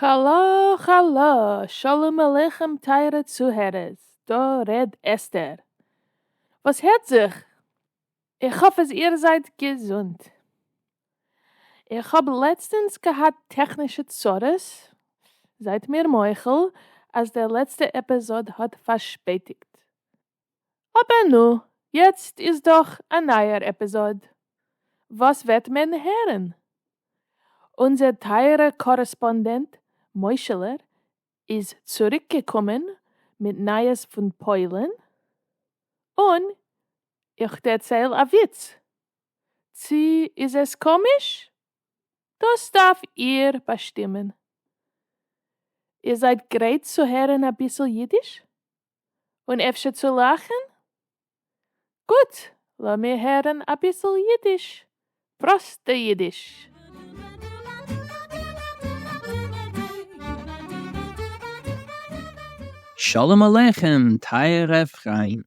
האלא האלא, שלום עליכם טייערע צוהערערס, דא ר' אסתר. וואס הערט זיך? איך האף אז איר זייט געזונט. איך האב לעצטענס געהאט טעכנישע צרות, זייט מיר מוחל אז דער לעצטע עפעזאד האט פארשפעטיגט. אבער נו, יעצט איז דאך א נייער עפעזאד, וואס וועט מען הערן? אונזער טייערע קארעספאנדענט מוישעלער איז צוריקגעקומען מיט נייעס פון פוילן, און איך דערצייל א וויץ. צי איז עס קאמיש? דאס דארף איר באשטימען. איר זייט גרייט צו הערן אביסל אידיש? און אפשר צו לאכן? גוט, לאמיר הערן אביסל אידיש, פראסטע אידיש! שלום עליכם טייערע פריינט,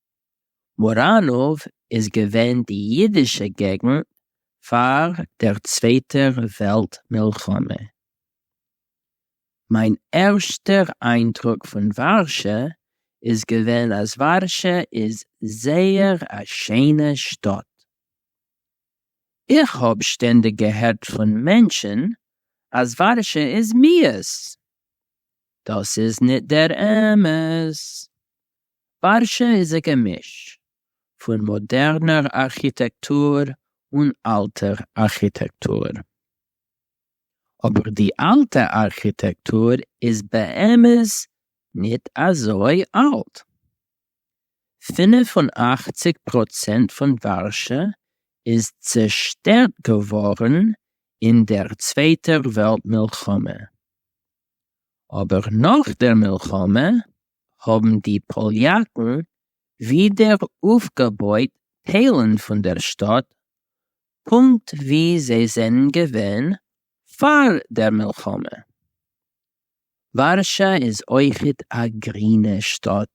מוראנאוו איז געווען די אידישע געגנט פאר דער צווייטער וועלט מלחמה. מיין ערשטער איינדרוק פון ווארשע איז געווען אז ווארשע איז זייער א שענע שטאט. איך האב שטענדיג געהערט פון מענטשן אז ווארשע איז מיאוס. דאס איז ניט דער אמת. פרשה איז א געמיש פון מאדערנער ארכיטעקטור און אלטער ארכיטעקטור, אבער די אלטע ארכיטעקטור איז באמת ניט אזוי אלט. פֿינף און אַכציק פראצענט פון ווארשע איז צעשטערט געווארן אין דער צווייטער וועלט מלחמה. אבער נאך דער מלחמה האבן די פאליאקן ווידער אויפגעבויט טיילן פון דער שטאט פונקט ווי זיי זענען געווען פאר דער מלחמה. ווארשא איז אויכעט א גרינע שטאט,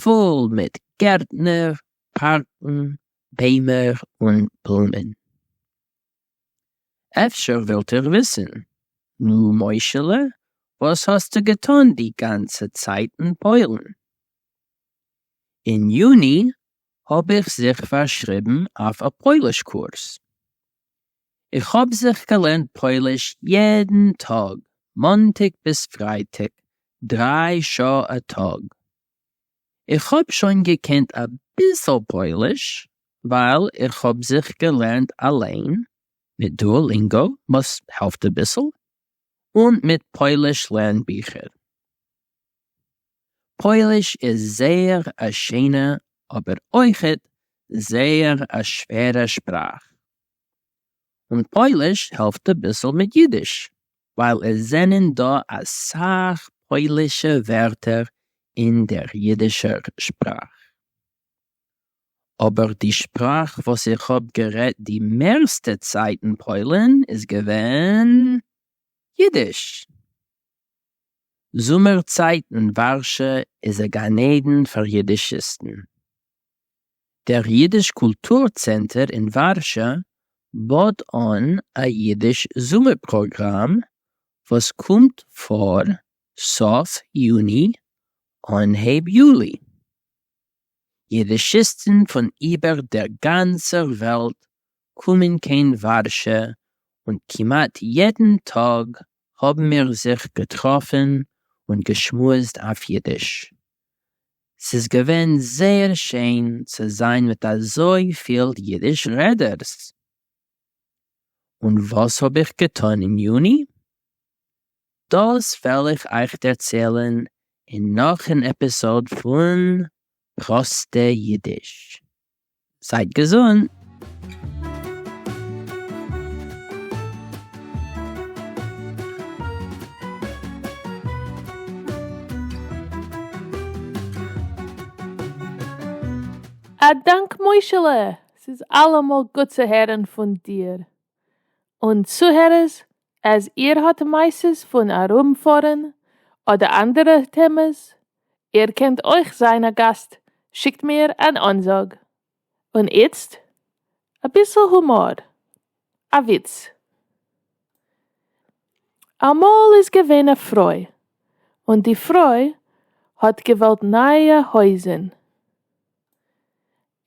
פול מיט גערטנער, פארקן, ביימער און בלומען. אפשר ווילט איר וויסן, נו מוישעלע וואס האסטו געטון די גאנצע צייט אין פוילן? אין יוני האב איך זיך פארשריבן אויף א פויליש קורס, איך האב זיך געלערנט פויליש יעדן טאג מאנטאג ביז פרייטאג דריי שעה א טאג, איך האב שוין געקענט אביסל פויליש ווייל איך האב זיך געלערנט אליין מיט דואלינגאו וואס העלפט אביסל, און מיט פויליש לערן ביכער. פויליש איז זייער א שיינע אבער אויכעט זייער א שווערע שפראך. און פויליש העלפט אביסל מיט אידיש. ווייל עס זענען דא אסאך פוילישע ווערטער אין דער אידישער שפראך. אבער די שפראך וואס איך האב גערעדט די מערסטע צייט אין פוילן איז געווען אידיש. זומער צייט אין ווארשע איז א גן עדן פאר אידישיסטן. דער ייִדיש קולטור-צענטער אין וואַרשע באָט אָן אַ ייִדיש זומער-פּראָגראַם וואָס קומט פֿאָר סוף יוני אָנהייב יולי. ייִדישיסטן פֿון איבער דער גאַנצער וועלט קומען קיין וואַרשע און כּמעט יעדן טאָג האבן מיר זיך געטראפן און געשמועסט אויף אידיש. ס'איז געווען זייער שיין צו זיין מיט אזויפיל אידיש רעדערס. און וואס האב איך געטון אין יוני? דאס וועל איך אייך דערציילן אין נאך אן עפיסאד פון פראסטע אידיש. זייט געזונט! א דאנק מוישעלע! ס'איז אלעמאל גוט צו הערן פון דיר און צוהערערס אז איר האט מעשות פון ארום פארן אדער אנדערע טעמעס, איר קענט אויך זיין א גאסט שיקט מיר אן אנזאג. און איצט אביסל הומאר, א וויץ. אמאל איז געווען א פרוי און די פרוי האט געוואלט נייע הויזן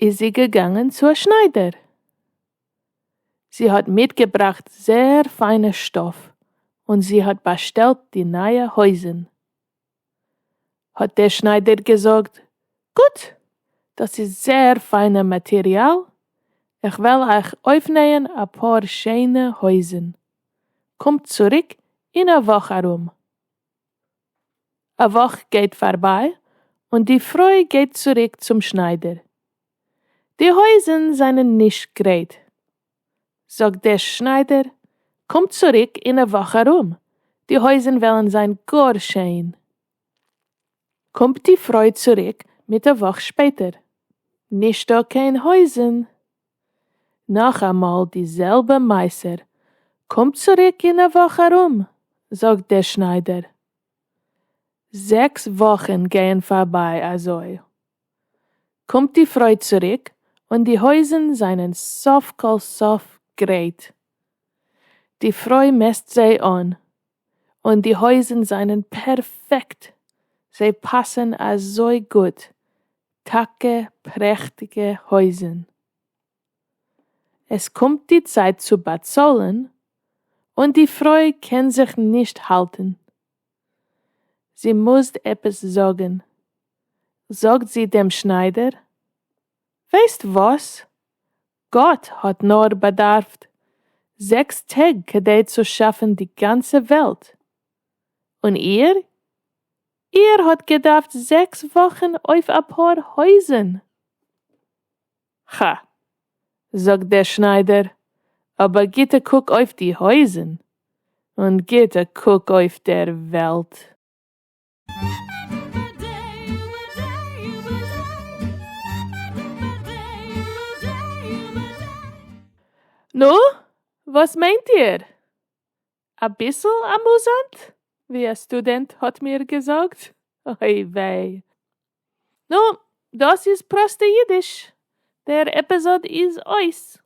איז זי געגאנגען צו א שניידער. זי האט מיטגעבראכט זעהר פיינע שטאף און זי האט באשטעלט די נייע הויזן. האט דער שניידער געזאגט, גוט! דאס איז זעהר פיינע מאטעריאל, איך וועל אייך אויפנעהן אפאר שעהנע הויזן. קומט צוריק אין א וואך ארום. א וואך גייט פארביי און די פרוי גייט צוריק צום שניידער. די הויזן זענען נישט גרייט. זאגט דער שניידער, קום צוריק אין א וואך ארום, די הויזן וועלן זיין גאר שיין. קומט די פרוי צוריק מיט א וואך שפעטער. נישטא קיין הויזן. נאכאמאל די זעלבע מוסר, קומט צוריק אין א וואך ארום, זאגט דער שניידער. זעקס וואכן גייען פארביי אזוי. קומט די פרוי צוריק און די הויזן זענען סוף כל סוף גרייט. די פרוי מעסט זיי אן. און די הויזן זענען פערפעקט, זיי פאסן אזוי גוט, טאקע פרעכטיגע הויזן. עס קומט די צייט צו באצאלן, און די פרוי קען זיך נישט האלטן, זי מוזט עפעס זאגן, זאגט זי דעם שניידער, ווייסט וואס? גאט האט נאר באדארפט זעקס טעג כדי צו שאפן די גאנצע וועלט, און איר? איר האט געדארפט זעקס וואכן אויף אפאר הויזן! כא, זאגט דער שניידער, אבער גיט א קוק אויף די הויזן, און גיט א קוק אויף דער וועלט. נו, וואס מיינט איר? אביסל אמוזאנט, ווי א סטודענט האט מיר געזאגט, אוי וויי. נו, דאס איז פראסטע אידיש, דער עפיזאד איז אויס.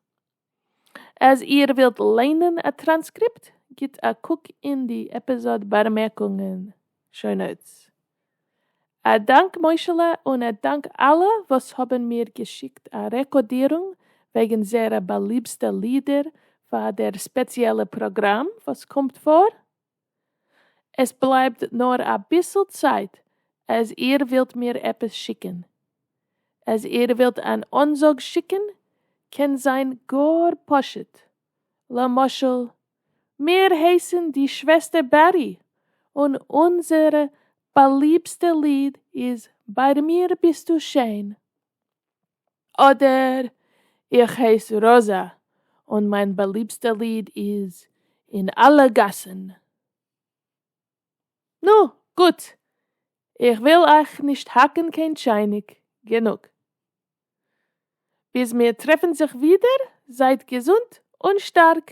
אז איר ווילט ליינען א טראנסקריפט, גיט א קוק אין די עפיזאד באמערקונגען, show notes. א דאנק מוישעלע און א דאנק אלע וואס האבן מיר געשיקט א רעקאדירונג וועגן זייערע באליבסטע לידער פאר דער ספעציעלע פראגראם וואס קומט פאר. עס בלייבט נאר אביסל צייט אז איר ווילט מיר עפעס שיקען. אז איר ווילט אן אנזאג שיקען קען זיין גאר פשוט, למשל מיר הייסען די שוועסטער בעטי און אונזער באליבסטע ליד איז ביי מיר ביסטו שיין. אדער איך הייס ראזע און מיין באליבסטע ליד איז אין אלע גאסן. נו, גוט, איך וויל אייך נישט האקן קיין טשייניק, גענוג. ביז מיר טרעפן זיך ווידער, זייט געזונט און שטארק.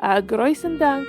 א גרויסן דאנק!